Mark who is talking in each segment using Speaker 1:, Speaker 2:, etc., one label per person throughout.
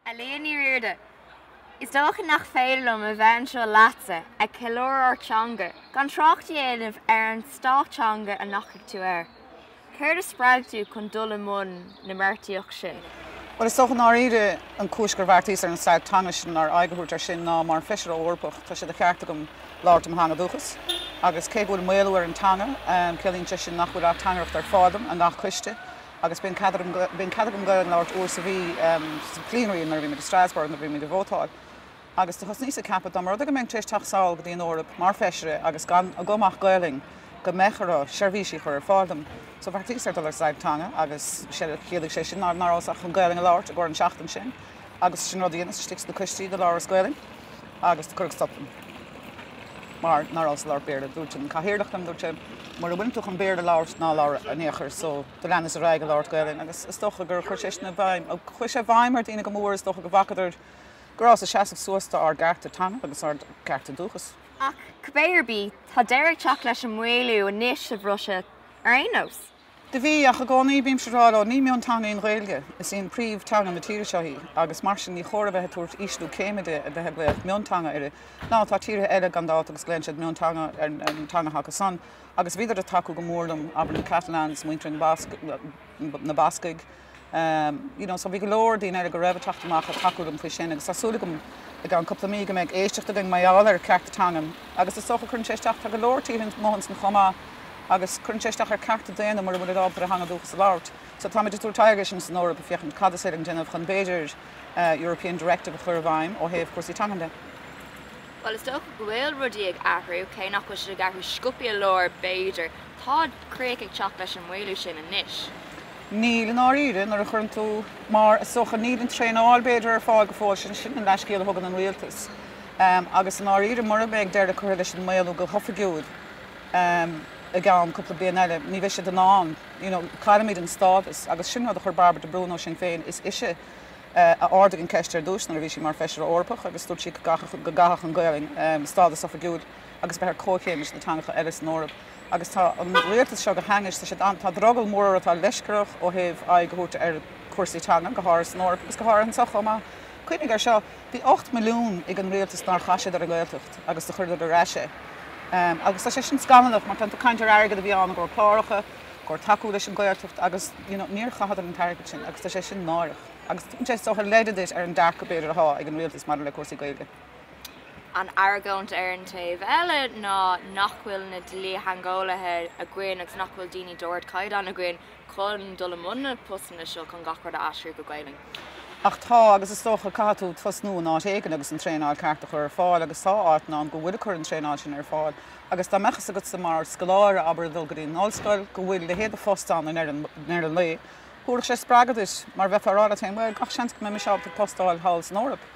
Speaker 1: A Liadh Ní Riada, Is dócha nach féidir liom a bheith anseo leatsa ag ceiliúradh ár dteanga gan trácht a dhéanamh ar an stailc teanga a ndeachaigh tú air. Céard a spreag tú chun dul i mbun na mbeartaíochta sin? Bhuel, is dócha
Speaker 2: i ndáiríre, an chúis gur bheartaíos ar an stailc teanga sin, nó ar aghaidh a thabhairt air sin, ná mar Feisire Eorpach, tá sé de cheart agam labhairt i mo theanga dúchas. Agus cé go bhfuil maolú ar an teanga, ciallaíonn sé sin nach bhfuil ateangaireacht ar fáil dom i ngach coiste. Agus bíonn cead agam Gaeilge a labhairt uair sa mhí sa bplenary nuair a bhímid i Strasbourg, nuair a bhímid ag vótáil. agus do thosnaíos ag ceapadh, dá mba rud é go mbeinn tar éis teacht sall go dtí an Eoraip mar Feisire agus gan agam ach Gaolainn, go mbeadh orthu seirbhísí a chur ar fáil dom. So bheartaíos ar dul ar stailc teanga agus chiallaigh sé sin ná rabhas ach chun Gaolainn a labhairt i gcomhair an seachtain sin agus sin rud a dheineas istigh sna coistí do labhras Gaolainn agus do cuireadh stop liom mar ná rabhas ag labhairt Béarla. Dúirt an cathaoirleach liom, dúirt sé, mura bhfuileann tú chun Béarla a labhairt, ná labhair in aon chor. So do leanas ar aghaidh ag labhairt Gaolainn agus is dócha gur chuir sé sin i bhfeidhm, chuir sé i bhfeidhm ar daoine go mór, is dócha go bhfacadar, go rabhas ag seasamh suas d'ár gcearta teanga agus d'ár gcearta dúchas. Ach cibé
Speaker 1: ar bith, tá deireadh ag teacht leis an maolú anois, sa Bhruiséil ar aon nós. Do bhí, ach i
Speaker 2: gcónaí bímse ag rá leo, ní mionteanga í an Ghaeilge, is í an príomhteanga na tíre seo í, agus mar sin ní chóir a bheith ag tabhairt ísliú céime di a bheith ag glaoch mionteanga air, now tá tíortha eile gan dabht agus glaonn siad mionteanga ar na teangacha acu san, agus bhíodar ag tacú go mór liom, abair na Catalans, muintir na mBascaigh, you know, so bhí go leor daoine eile go raibh ag teacht amach ag tacú liom faoi sin agus tá súil agam i gceann cúpla mí go mbeidh éisteacht againn mar gheall ar chearta teangan agus is dócha cuireann sé isteach, tá go leor tíortha ann mothaíonn san chomh maith agus cuireann sé isteach ar cearta daonna mura bhfuilid ábalta ar a theanga dúchas a labhairt. So táimid ag tabhairt aghaidh ar sin san Eoraip ag féachaint cad is féidir linn déanamh chun b'fhéidir European Directive a chur i bhfeidhm ó thaobh cúrsaí teangan de.
Speaker 1: Bhuel, is dócha go bhfuil rudaí ag athrú, cé nach bhfuil siad ag athrú sciobtha go leor b'fhéidir, tá críoch ag teacht leis an maolú sin anois. Níl, i
Speaker 2: ndáiríre. Nuair a chuireann tú, mar, is dócha, níl an traenáil, b'fhéidir, ar fáil go fóill, sin, sin an leathscéal a thugann an rialtas. Agus, i ndáiríre, mura mbeidh deireadh curtha leis an maolú go hoifigiúil i gceann cúpla bliain eile, ní bheidh siad in ann, you know, caillfimid an stádas. Agus sin rud a chuir Bairbre de Brún ó Sinn Féin, is ise a ardaigh an cheist ar dtús nuair a bhí sí mar Feisire Eorpach agus dúirt sí go gcaithfeadh, go gcaithfeadh an Ghaolainn stádas oifigiúil agus bheith ar comhchéim leis na teangacha eile san Eoraip. agus tá an rialtas seo go hainnis, tá siad ann, tá drogall mór orthu, tá leisce orthu ó thaobh aghaidh a thabhairt ar chúrsaí teanga, go háirithe san Eoraip agus go háirithe anseo chomh maith. Cuimhnigh air seo, bhí 8 milliún ag an rialtas nár chaith siad ar an nGaeltacht agus do chuireadar ar ais é agus tá sé sin scannalach mar tá caint ar airgead a bhí ann i gcomhair cláracha, i gcomhair tacú leis an Ghaeltacht agus you know níor chaitheadar an t-airgead sin agus tá sé sin náireach agus tugann sé sort of leid duit ar an dearcadh b'fhéidir atá ag an rialtas maidir le cúrsaí Gaeilge. An
Speaker 1: argóint ar an taobh eile ná nach bhfuil na dlítheangeolaithe againn agus nach bhfuil daoine d'ardchaighdeán againn chun dul i mbun na postanna seo chun gach rud a aistriú go Gaelainn. Ach tá,
Speaker 2: agus is dócha caithfidh tú tosnú in áit éigin agus an traenáil ceart a chur ar fáil agus tá áiteanna ann go bhfuil ag cur an traenáil sin ar fáil agus dá mbeadh fhios agatsa mar scoláire, abair, a dhul go dtí an ollscoil go bhfuil leithéid de phost ann in ar an lae, thabharfadh sé spreagadh duit mar bheifeá a rá leat féin bhuel, gach seans go mbeidh mise ábalta post a fháil thall san Eoraip.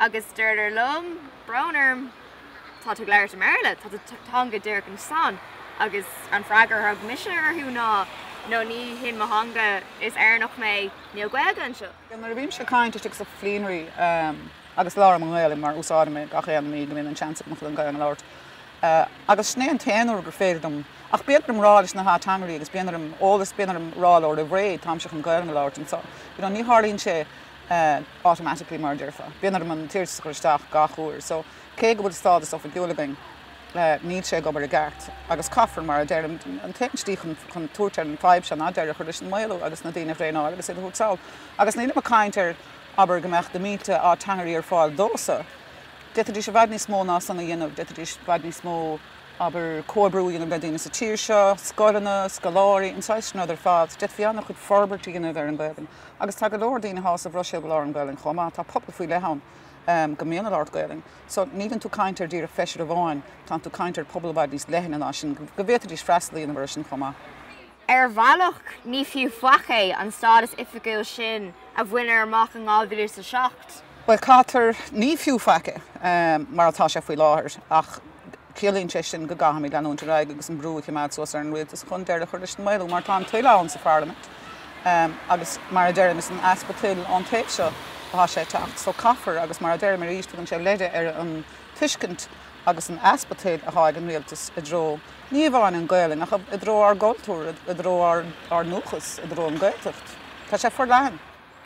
Speaker 1: Agus deirtear liom, brón orm, tá tú ag labhairt i mBéarla, tá do theanga agat anso. Agus an freagra a thug mise orthu ná, no, ní hin mo theanga, is Éireannach mé, níl Gaeilge anseo. Nuair a bhímse ag caint
Speaker 2: istigh sa Plenary, agus labhraím an Ghaelainn mar úsáidim í gach aon mí go mbíonn an seans agam chun an Ghaelainn a labhairt, agus sin é an t-aon uair gur féidir dom, ach bíonn orm rá leis na hateangairí agus bíonn orm eolas, bíonn orm rá leo roimh ré, táimse chun Gaelainn a labhairt anseo, you know, ní tharlaíonn sé. automatically mar a déarfá, bíonn orm an t-iarratas a chur isteach gach uair, so cé go bhfuil stádas oifigiúil againn, níl sé ag obair i gceart agus caithfear, mar a deirim, an t-aon tslí chun tabhairt ar an fadhb seo ná deireadh a chur leis an maolú agus na daoine a thraenáil agus iad a thabhairt sall. Agus nílim ag caint ar, abair, go mbeadh na mílte ateangairí ar fáil domhsa, d'fhéadfaidís i bhfad níos mó ná san a dhéanamh, d'fhéadfaidís i bhfad níos mó, abair, comhoibriú a dhéanamh le daoine sa tír seo, scoileanna, scoláirí, an saghas sin rud ar fad, d'fhéadfaí an-chuid forbairt a dhéanamh ar an Ghaelainn. Agus tá go leor daoine thall sa Bhruiséil go labhrann Gaelainn chomh maith. Tá pobal faoi leith ann go mbíonn ag labhairt Gaelainn. So níleann tú caint ar díreach feisire amháin, tánn tú caint ar pobal i bhfad níos leithne ná sin, go bhféadfaidís freastal a dhéanamh air sin chomh maith.
Speaker 1: Ar bhealach ní fiú faic é an stádas oifigiúil sin a baineadh amach in 2007. Bhuel,
Speaker 2: caithfear ní fiú faic é mar atá sé faoi láthair ach Ciallaíonn sé sin go gcaithfimid leanúint ar aghaidh agus an brú a choimeád suas ar an rialtas chun deireadh a chur leis an maolú, mar tá an toil ann sa pharlaimint agus mar a deirim, is an easpa toil ón taobh seo atá sé ag teacht. So caithfear, agus mar a deirim arís, tugann sé leid ar an tuiscint agus an easpa toil atá ag an rialtas i dtreo ní amháin an Ghaelainn ach i dtreo ár gcultúr, i dtreo ár ndúchas, i dtreo an Gaeltacht. Tá sé forleathan.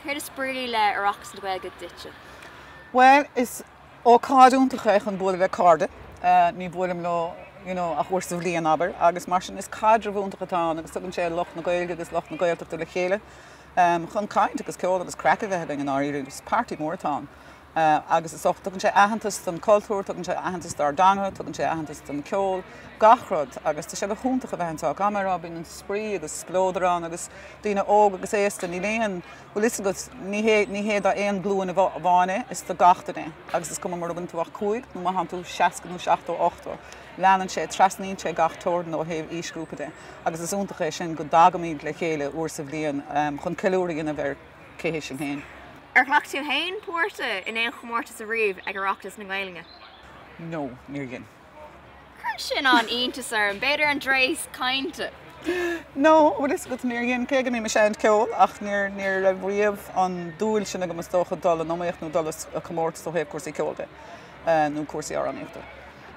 Speaker 2: Céard is brí
Speaker 1: le Oireachtas na Gaeilge duitse? Bhuel,
Speaker 2: is Ócáid iontach é chun bualadh le cairde, ní bhuailim leo ach uair sa bhliain, abair, agus mar sin is caidreamh iontach atá ann agus tugann sé lucht na Gaeilge agus lucht na Gaeltachta le chéile chun caint agus ceol agus craic a bheith againn in Éirinn, is party mór atá ann agus tugann sé aitheantas don chultúr, tugann sé aitheantas dár dteanga, tugann sé aitheantas don cheol, gach rud agus tá sé go hiontach a bheith anseo, caithfidh mé a rá, bíonn spraoi agus spleodar ann agus daoine óg agus aosta, níl aon. Bhfuil a fhios agat, ní hea, ní d'aon ghlúin amháin é, is do gach duine é. Agus is cuma mura bhfuileann tú ach cúig, nó má tánn tú seasca nó seachtó, ochtó, leanann sé, trasnaíonn sé gach teorainn ó thaobh aoisghrúpa de. Agus is iontach an rud é sin, go dtagaimid le chéile uair sa bhliain chun ceiliúradh a dhéanamh ar cé hé sinn féin. Ar ghlac tú
Speaker 1: féin páirt in aon chomórtas ariamh ag Oireachtas na Gaeilge? No,
Speaker 2: níor dhein. Chuir
Speaker 1: sin an-iontas orm. B'fhéidir an dreas cainte.
Speaker 2: No, bhfuil a fhios agat níor dhein, cé go mbím ag seinnt ceoil, ach níor, ní raibh riamh an dúil sin agam is dócha dul in iomaíocht nó dul i comórtas ó thaobh cúrsaí ceoil de, nó cúrsaí amhránaíochta.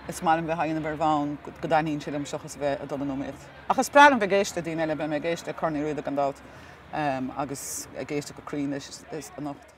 Speaker 2: Is maith liom bheith á dhéanamh ar bhonn go dtaitníonn sé liom seachas a bheith ag dul in iomaíocht. Ach is breá liom bheith ag éisteadh le daoine eile, beidh mé ag éisteadh le Corn Uí Riada gan dabht, agus ag éisteadh go cruinn leis anocht.